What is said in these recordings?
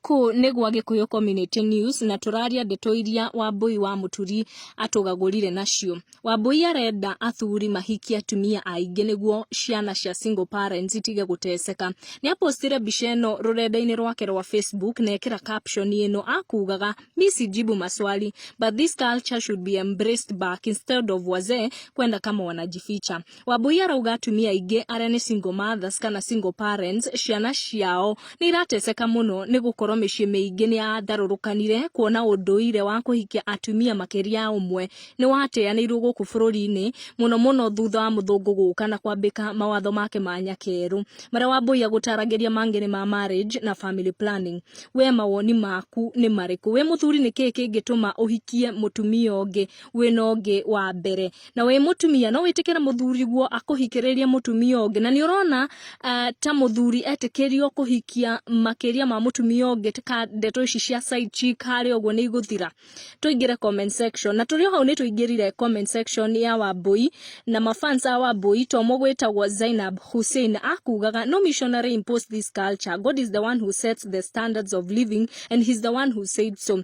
Kũũ nĩ gwa Gĩkũyũ Community News na tũraria ndeto iria Wambũi wa Mũturi atũgagũrire nacio. Wambũi arenda athuri mahikie atumia aingĩ nĩguo ciana cia single parents itige gũteceka. Nĩ apostire mbica ĩno rũrenda-inĩ rwake rwa Facebook na ekĩra caption ĩno akugaga mi sijibu maswali but this culture should be embraced back instead of wazee kwenda kama wanajificha. Wambui arauga atumia aingĩ arĩa nĩ single mothers kana single parents ciana ciao nĩ irateceka mũno nĩ gũkorwo mĩciĩ mĩingĩ nĩ yatharũrũkanire kuona ũndũire wa kũhikia atumia makĩria ya ũmwe nĩ wateanĩirwo gũkũ bũrũri-inĩ mũno mũno thutha wa mũthũngũ gũka na kwambĩka mawatho make ma nyakerũ marĩa Wambui agũtaragĩria mangĩ ma marriage na family planning. We mawoni maku nĩ marĩkũ? We mũthuri nĩ kĩĩ kĩngĩtũma ũhikie mũtumia ũngĩ wĩna ũngĩ wa mbere? na wĩ mũtumia no wĩtĩkĩre mũthuri guo akũhikĩrĩrie mũtumia ũngĩ na nĩ ũrona uh, ta mũthuri etĩkĩrio kũhikia makĩria ma mũtumia ũngĩ ka ndeto ici cia side chick harĩa ũguo nĩ igũthira tũingĩre comment section na tũrĩ o hau nĩ tũingĩrire comment section ya wambui na mafans a wambui to mũgwĩtagwo zainab hussein akugaga no missionary impose this culture god is the one who sets the standards of living and he's the one who said so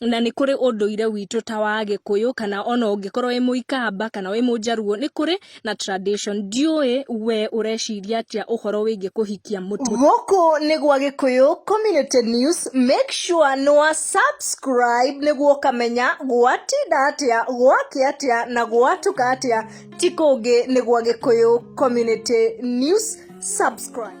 na nĩ kũrĩ ũndũire witũ ta wa gĩkũyũ kana ona ũngĩkorwo wĩ mũikamba kana wĩ mũnjaruo nĩ kũrĩ na tradition ndiũĩ we ũreciria atĩa ũhoro wĩgiĩ kũhikia mũtu gũkũ nĩ gwa gĩkũyũ community news make sure nĩ wa subscribe nĩguo ũkamenya gwatinda atĩa gwake atĩa na gwatuka atĩa ti kũngĩ nĩ gwa gĩkũyũ community news subscribe